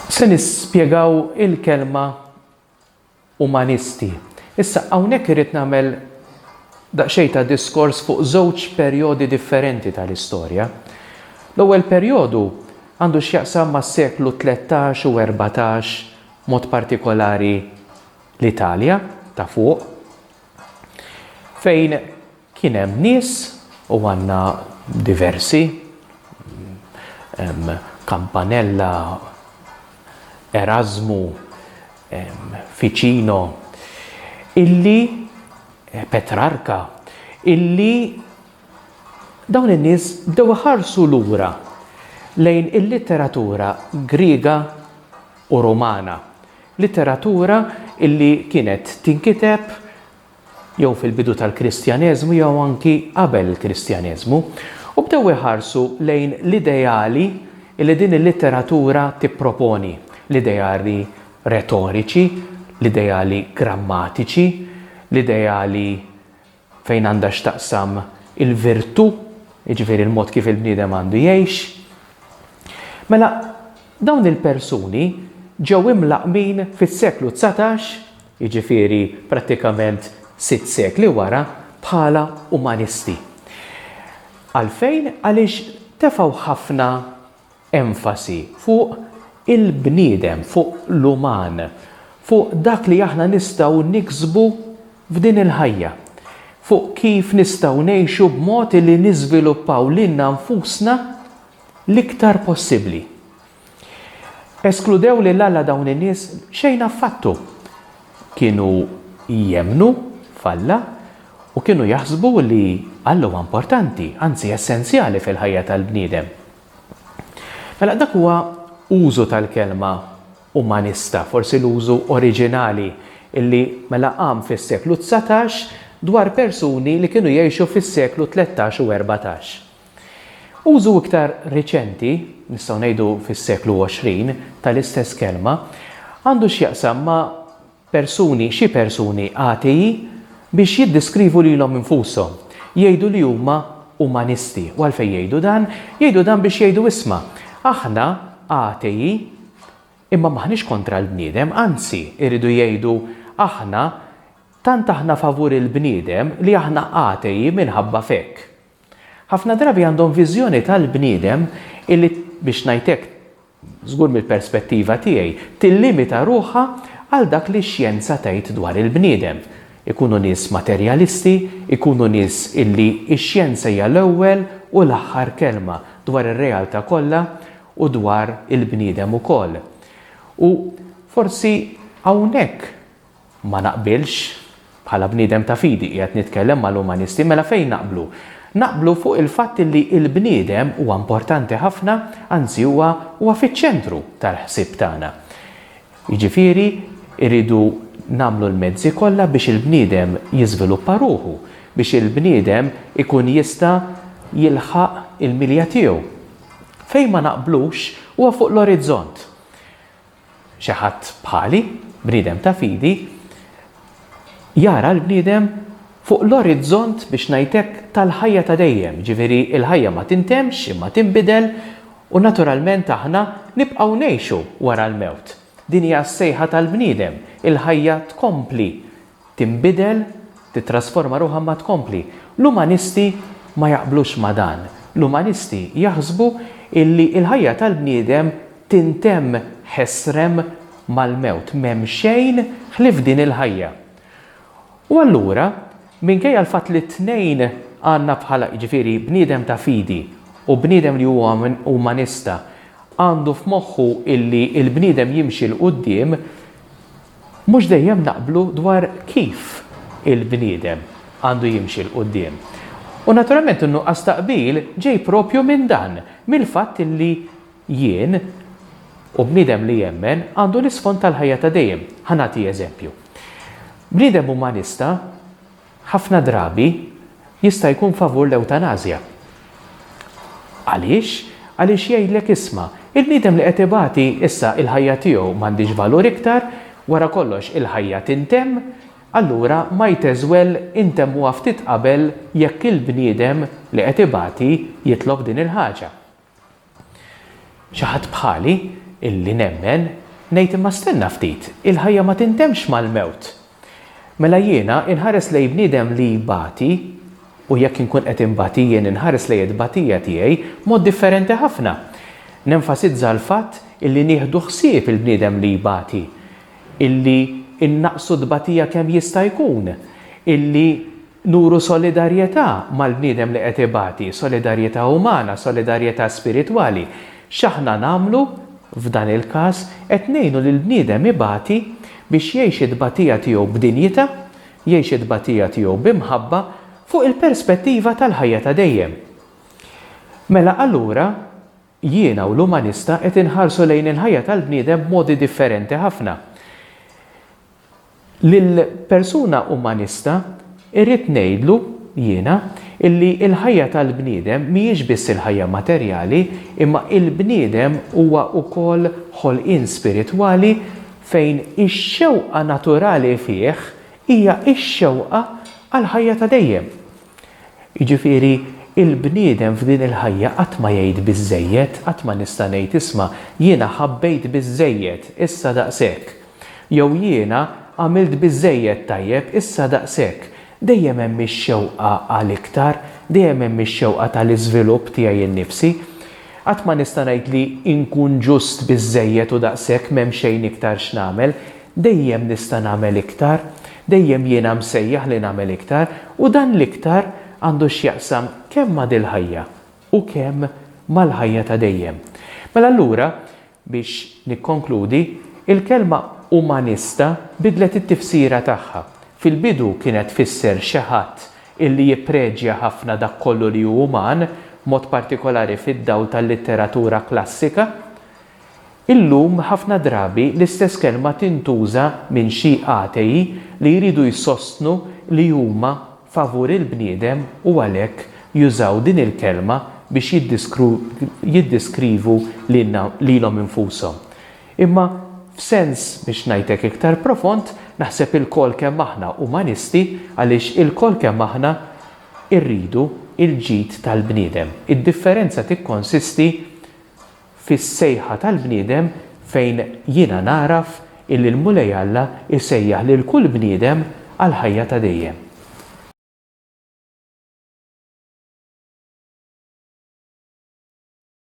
Se nispjegaw il-kelma umanisti. Issa hawnhekk irrid nagħmel daqsxejn ta' diskors fuq żewġ perjodi differenti tal-istorja. L-ewwel perjodu għandu x'jaqsam mas-seklu 13 u 14 mod partikolari l-Italja ta' fuq fejn Kien hemm nies, u għandna diversi, Campanella, Erasmu, Ficino, illi, Petrarca, illi dawn in-nies bdew iħarsu lura lejn il-litteratura Griega u Rumana, litteratura illi kienet tinkiteb jew fil-bidu tal-Kristjaneżmu jew anki qabel il-Kristjaneżmu, u bdew iħarsu lejn l-ideali li din il-litteratura tipproponi, l-ideali retoriċi, l-ideali grammatiċi, l-ideali fejn għandha x'taqsam il-virtù, jiġifieri l-mod kif il-bniedem għandu jgħix. Mela, dawn il-persuni ġew imlaqqmin fis-seklu dsatax jiġifieri prattikament sitt sekli wara, bħala umanisti. Għalfejn? Għaliex tefgħu ħafna enfasi fuq il-bniedem, fuq l-uman, fuq dak li aħna nistgħu niksbu f'din il-ħajja, fuq kif nistgħu ngħixu b'mod li niżviluppaw lilna nfusna l-iktar possibbli. Eskludew lil Alla dawn in-nies? Xejn affattu! Kienu jemmnu f'Alla u kienu jaħsbu li Alla huwa importanti, anzi essenzjali fil-ħajja tal-bniedem. Mela dak huwa użu tal-kelma umanista, forsi l-użu oriġinali li mela qam fis-seklu dsatax dwar persuni li kienu jgħixu fis-seklu tlettax u erbatax. Użu iktar riċenti, nistgħu ngħidu fis-seklu 20, tal-istess kelma għandu x'jaqsam ma' persuni, xi persuni atei biex jiddiskrivu lilhom infushom. Jgħidu li huma umanisti. U għalfejn jgħidu dan? Jgħidu dan biex jgħidu isma', aħna atei imma m'aħniex kontra l-bniedem, anzi, iridu jgħidu aħna tant aħna favur il-bniedem li aħna atei minħabba f'hekk. Ħafna drabi għandhom viżjoni tal-bniedem illi, biex ngħid hekk, żgur mill-perspettiva tiegħi, tillimita ruħha għal dak li x-xjenza tgħid dwar il-bniedem. Ikunu nies materjalisti, ikunu nies illi x-xjenza hija l-ewwel u l-aħħar kelma dwar ir-realtà kollha u dwar il-bniedem ukoll. U forsi hawnhekk Ma naqbilx. Bħala bniedem ta' fidi, qiegħed nitkellem mal-umanisti, mela fejn naqblu? Naqblu fuq il-fatt li l-bniedem huwa importanti ħafna, anzi huwa huwa fiċ-ċentru tal-ħsieb tagħna. Jiġifieri rridu nagħmlu l-mezzi kollha biex il-bniedem jiżviluppa ruħu, biex il-bniedem ikun jista' jilħaq il-milja tiegħu. Fejn ma naqblux huwa fuq l-orizzont. xi ħadd bħali, bniedem ta' fidi, jara l-bniedem fuq l-orizzont biex ngħid hekk tal-ħajja ta' dejjem, jiġifieri l-ħajja ma tintemmx imma tinbidel u naturalment aħna nibqgħu ngħixu wara l-mewt. Din hija s-sejħa tal-bniedem, il-ħajja tkompli tinbidel, tittrasforma ruħha imma tkompli. L-umanisti ma jaqblux ma' dan. L-umanisti jaħsbu illi l-ħajja tal-bniedem tintemm ħesrem mal-mewt, m'hemm xejn ħlief din il-ħajja. U allura, minkejja l-fatt li t-tnejn għandna bħala, jiġifieri bniedem ta' fidi u bniedem li huwa umanista għandu f'moħħu illi l-bniedem jimxi 'l quddiem, Mhux dejjem naqblu dwar kif il-bniedem għandu jimxi 'l quddiem. U naturalment in-nuqqas ta' qbil ġej proprju minn dan, mill-fatt li jien, u bniedem li jemmen, għandu l-isfond tal-ħajja ta' dejjem. Ħa nagħti eżempju. Bniedem umanista Ħafna drabi jista' jkun favur l-ewtanażja. Għaliex? Għaliex jgħidlek isma', il-bniedem li qed ibati issa il-ħajja tiegħu m'għandhiex valur iktar, wara kollox il-ħajja tintemm, allura might as well intemmuha ftit qabel jekk il-bniedem li qed ibati jitlob din il-ħaġa. Xi ħadd bħali, illi nemmen, ngħid imma stenna ftit, il-ħajja ma tintemmx mal-mewt. Mela jiena inħares lejn bniedem li jbati, u jekk inkun qed inbati jien inħares lejn it-tbatija tiegħi mod differenti ħafna. Nenfasizza l-fatt illi nieħdu ħsieb il-bniedem li jbati, illi innaqqsu t-tbatija kemm jista' jkun, illi Nuru solidarjetà mal-bniedem li qed ibati, solidarjetà umana, solidarjetà spiritwali. X'aħna nagħmlu? F'dan il-każ, qed ngħinu lill-bniedem ibati biex jgħix it-tbatija tiegħu b'dinjità, jgħix it-tbatija tiegħu bi mħabba fuq il-perspettiva tal-ħajja ta' dejjem. Mela allura, Jiena u l-umanista qed inħarsu lejn il-ħajja tal-bniedem b'modi differenti ħafna. Lill-persuna umanista irrid ngħidlu, jiena, illi l-ħajja tal-bniedem mhijiex biss il-ħajja materjali imma il-bniedem huwa ukoll ħolqien spiritwali fejn ix-xewqa naturali fih hija x-xewqa għall-ħajja ta' dejjem. Jiġifieri, il-bniedem f'din il-ħajja qatt ma jgħid biżżejjed, qatt ma nista' ngħid isma' jiena ħabbejt biżżejjed, issa daqshekk. Jew jiena għamilt biżżejjed tajjeb, issa daqshekk. Dejjem hemm ix-xewqa għal iktar, dejjem hemm ix-xewqa tal-iżvilupp tiegħi nnifsi. Qatt ma nista' ngħid li nkun ġust biżżejjed u daqshekk m'hemm xejn iktar x'nagħmel. Dejjem nista' nagħmel iktar. Dejjem jiena msejjaħ li nagħmel iktar u dan l-iktar għandu x'jaqsam kemm ma' dil-ħajja u kemm mal-ħajja ta' dejjem. Mela allura, Biex nikkonkludi, il-kelma umanista bidlet it-tifsira tagħha. Fil-bidu kienet tfisser xi ħadd illi jippreġja ħafna dak kollu li hu uman, b'mod partikolari fid-dawl tal-litteratura klassika. Illum ħafna drabi l-istess kelma tintuża minn xi atei li jridu jsostnu li huma, favur il-bniedem u għalhekk jużaw din il-kelma biex jiddeskrivu lilhom infushom. Imma f'sens biex ngħid hekk iktar profond, naħseb ilkoll kemm aħna umanisti għaliex ilkoll kemm aħna rridu l-ġid tal-bniedem. Id-differenza tikkonsisti fis-sejħa tal-bniedem fejn jiena nagħraf illi l-Mulej Alla jsejjaħ lil kull bniedem għall-ħajja ta' dejjem.